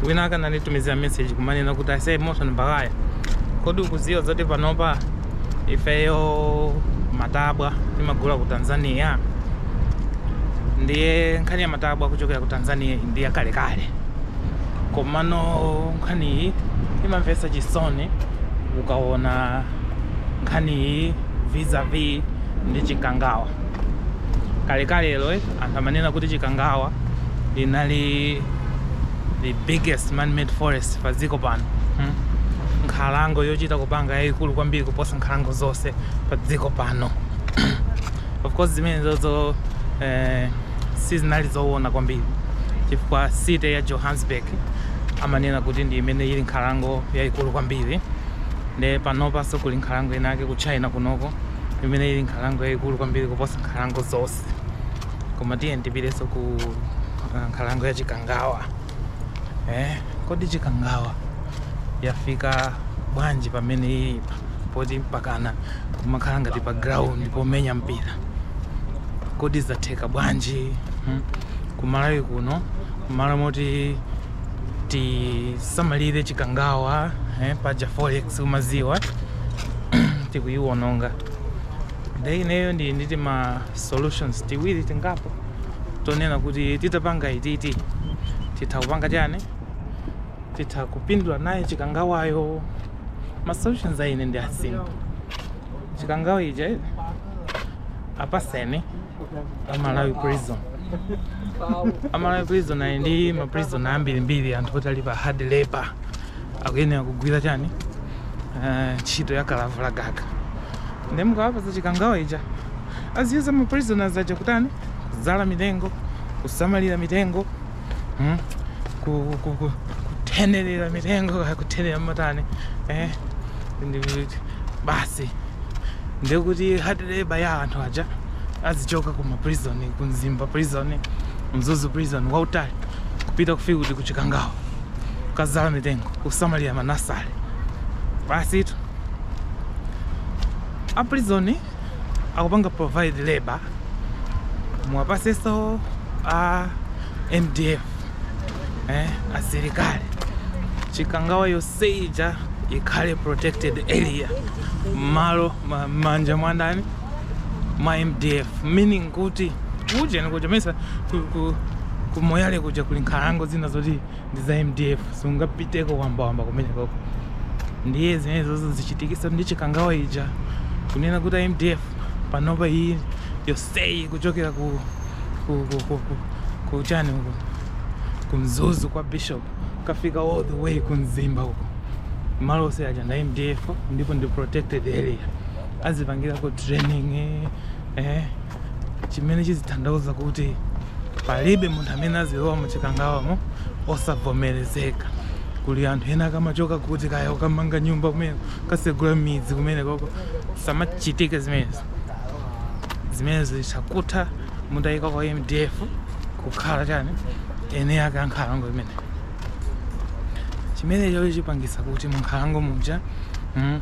wina akananditumizira message kumanena kuti a Simon Mbalaya kodi ukuziwa zoti panopa ifeyo matabwa timagula ku tanzania ndiye nkhani ya matabwa ochokera ku tanzania ndi yakalekale komano nkhani iyi imamvetsa chisoni ukaona nkhani iyi vis-a-vis ndi chikangawa kalekalelo eh, anthu amanena kuti chikangawa linali the biggest man-made forest pa dziko pano hmm? nkhalango yochita kupanga yayikulu kwambiri kuposa nkhalango zonse pa dziko pano of course zimenezo eh, sizinali zowona kwambiri chifukwa city ya johannesburg amanena kuti ndi imene ili nkhalango yayikulu kwambiri nde panopanso kuli nkhalango inake ku china kunoko imene ili nkhalango yayikulu kwambiri kuposa nkhalango zonse koma tiye ndipitenso ku uh, nkhalango ya chikangawa eh, kodi chikangawa yafika bwanji pamene ilipa poti mpakana kumakhala ngati pa ground pomenya mpira kodi zatheka bwanji hmm? kumalawi kuno kumalo moti tisamalire chikangawa eh, paja forex umaziwa tikuyiwononga nde ineyo ndi nditima solutions tiwiri tingapo tonena kuti titapanga ititi titha kupanga chani titha kupindula naye chikangawayo ma solutions a ine ndi asimple chikangawa ija apatseni amalawi prison amalawi prison ali ndi ma prison ambirimbiri anthu oti ali pa hard labor akuyenera kugwira chani Eh, ntchito ya kalavula gaga nde mukawapasa chikangawa ija aziyuza ma prisoners aja kutani kuzala mitengo kusamalira mitengo hmm? kuthenerera mitengo kuthenera matani eh? basi ndekuti hard labor ya anthu aja azichoka kuma prison ku mzimba prison mzuzu prison wautali kupita kufika kuti kuchikangawa kukazala mitengo kusamalira manasale basitu a prison akupanga provide labor muwapaseso a mdf eh, asilikali chikangawa yoseija ikhale protected area mmalo manja mwandani ma mdf meaning kuti kuja nikuja mesa kumoyale kuja kuli nkhalango zina zoti ndi za mdf sungapiteko wambawamba kumenekoko ndiye zimenezozo zichitikeso ndi chikangawa ija kunena kuti a mdf panopa iyi yoseyi kuchokera ku ku ku ku ku ku chani uku ku mzuzu kwa bishop kafika all the way ku mzimba uko malo ose aja nda mdf ndipo ndi protected area azipangirako training eh, eh chimene chizithandauza kuti palibe munthu amene azilowa mu chikangawamo osavomerezeka kuli anthu ena akamachoka kuti kaya kukamanga nyumba kumene kukatsegula midzi kumenekoko zisamachitike zimenezo zimenezo zitha kutha mutayika a mdf kukhala chani eni ake ankhalango imene chimenecho chipangisa kuti munkhalango muja mm,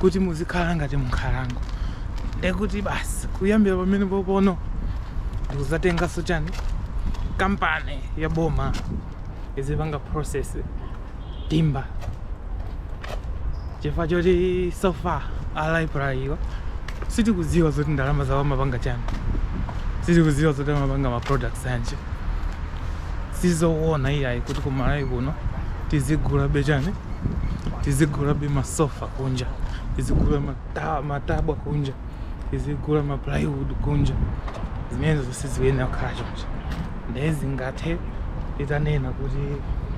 kuti muzikhala ngati munkhalango ndekuti basi kuyambira pamenepo pano ndikuzatenganso chani kampani ya boma izipanga process timba chifukwa choti so far a raiply awa sitikudziwa zoti ndalama zawo amapanga chani sitikudziwa zoti amapanga ma products anje sizoona iyayi kuti kumalawi kuno tizigulabe chani tizigulabe masofa pakunja tizigula mata- matabwa kunja tizigula maplywood kunja zimenezo siziyenera kukhala choncho ndiye zingathe titanena kuti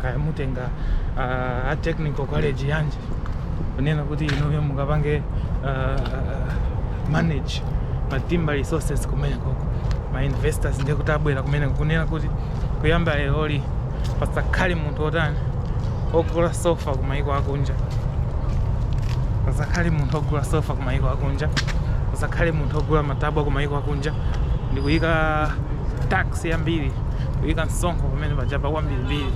kaya mutenga ah, a technical college yanje kunena kuti inuyo mukapange ah, manage matimba resources kumenekoko ma investors ndiye kuti abwera kumeneko kunena kuti kuyamba lero lino pasakhale munthu otani ogula sofa ku maiko akunja pasakhale munthu ogula sofa ku maiko akunja pasakhale munthu ogula matabwa ku maiko akunja ndi kuyika tax yambiri kuyika msonkho pamene pajapa kwambirimbiri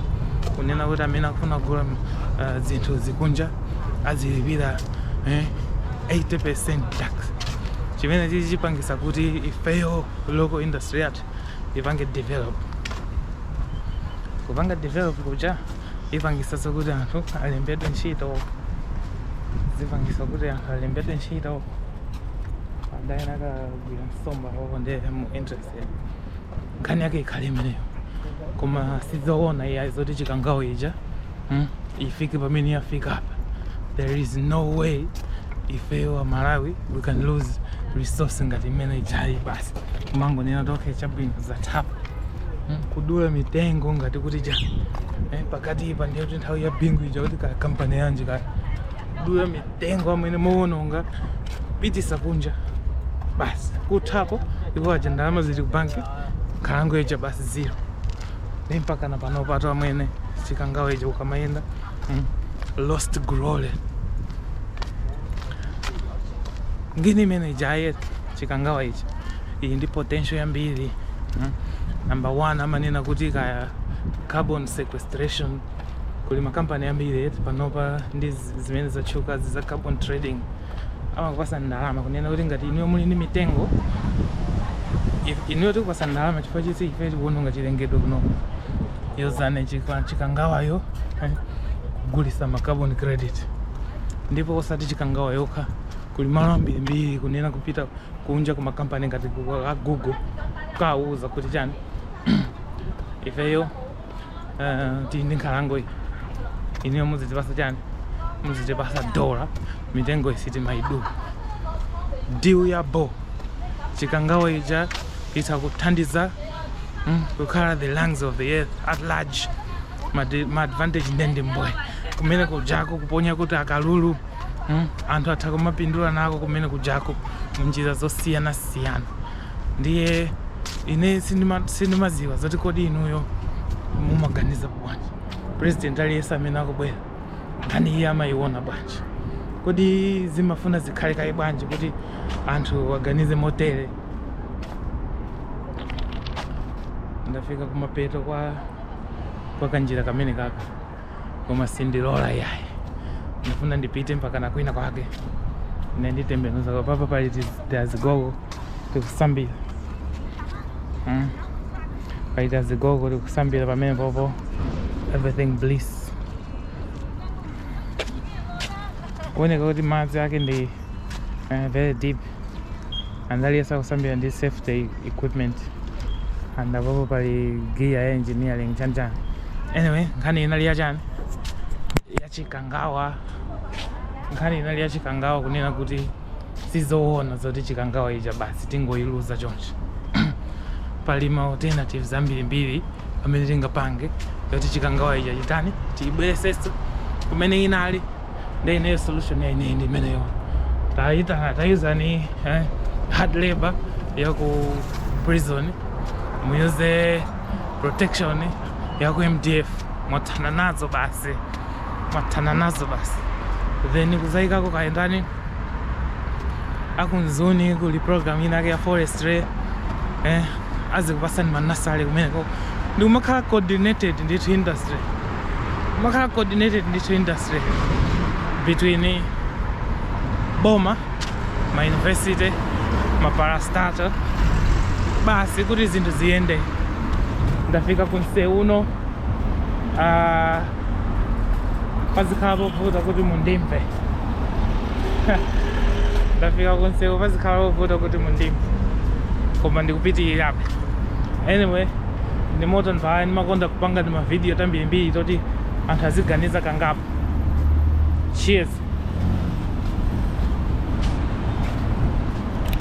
kunena kuti amene akufuna kugula uh, zinthu zikunja azilipira eh, 80% tax chimenechi chipangisa kuti ifeyo local industry yathu ipange develop kupanga develop kuja ipangisa zokuti anthu alembedwe ntchito zipangisa kuti anthu alembedwe ntchito adayena akagwira nsomba awo ndi mu interest nkhani yake ikhale imeneyo koma sizoona iyayi zoti chikangawa ija hmm? ifike pamene yafika apa there is no way ifeyo a malawi we can lose resource ngati imene ijayi basi kumangonena ok chabwino zatha apa hmm? kudula mitengo ngati kuti cha eh, pakatipa ndiye kuti nthawi ya bingu ija kuti kampani yanji kakudula mitengo ija mowononga kupitisa kunja basi kuthapo aja ndalama zili ku banki nkhalango ija basi zero ndi mpakana panopatu amwene chikangawa ichi ukamayenda mm, lost glory ngini imene ijayi chikangawa ichi ili ndi potential yambiri mm. number one amanena kuti kaya carbon sequestration kuli makampani ambiri eti panopa ndi zi- zimene zatchukazi za carbon trading amakupasani ndalama kunena kuti ngati inuyo muli ndi mitengo if- inuyo tikupasa ndalama chifukwa choti ife tikuononga chilengedwe kuno yozani chika- chikangawayo eh, kugulisa ma carbon credit ndipo osati chikangawa yokha kuli malo ambirimbiri kunena kupita kunja kumakampani ngati ku- a google kawauza kuti chani ifeyo uh, tili ndi nkhalango iyi inuyo muzitipasa chani muzitipasa dola mitengo sitimaidula deal ya bho chikangawa ija itha kuthandiza mm, kukhala the lungs of the earth at large Madi- ma advantage nde ndi mbwee kumene kujako kuponya kuti akalulu mm, anthu atha kumapindula nako kumene kujako munjira zosiyanasiyana ndiye ine sindimadziwa zoti kodi inuyo mumaganiza bwanji president aliyense amene akubwera nkhani iyi amayiona bwanji kodi zimafuna zikhale kaye bwanji kuti anthu aganize motere ndafika kumapeto kwa kwa kanjira kamene kaka koma sindilola yayi ndifuna ndipite mpaka na kwina kwake ine nditembenuza apapa pali tiz- tiazungu tikusambira mm. pali tiazungu tikusambira pamene popo everything bliss kuoneka kuti madzi ake ndi uh, very deep and aliyense akusambira ndi safety equipment and apopo pali gear ya engineering chanchani anyway nkhani inali yachani yachikangawa nkhani inali yachikangawa kunena kuti sizoona zoti chikangawa ija basi tingoyiluza chonchi pali ma alternatives ambirimbiri amene tingapange yoti chikangawa ija chitani tiyibwezeresenso kumene inali nde ineyo solution ya ineyo ndi imeneyo tayitana tayuzani eh, hard labor ya ku prison muyuze protection ya ku mdf mwathana nazo basi mwathana nazo basi then kuzayikako kayendani a ku mzuni kuli program inake ya forestry eh, azikupatsani manazale kumeneko ndikumakhala coordinated ndithu industry kumakhala coordinated ndithu industry between boma ma university ma parastatal basi kuti zinthu ziyende ndafika ku mseu uno uh, pazikhala povuta kuti mundimve ndafika kunsewu pazikhala povuta kuti mundimve koma ndikupitirirabe anyway ndi moto ndipaya ndimakonda kupanga timavidiyo tambirimbiri toti anthu aziganiza kangapo cheers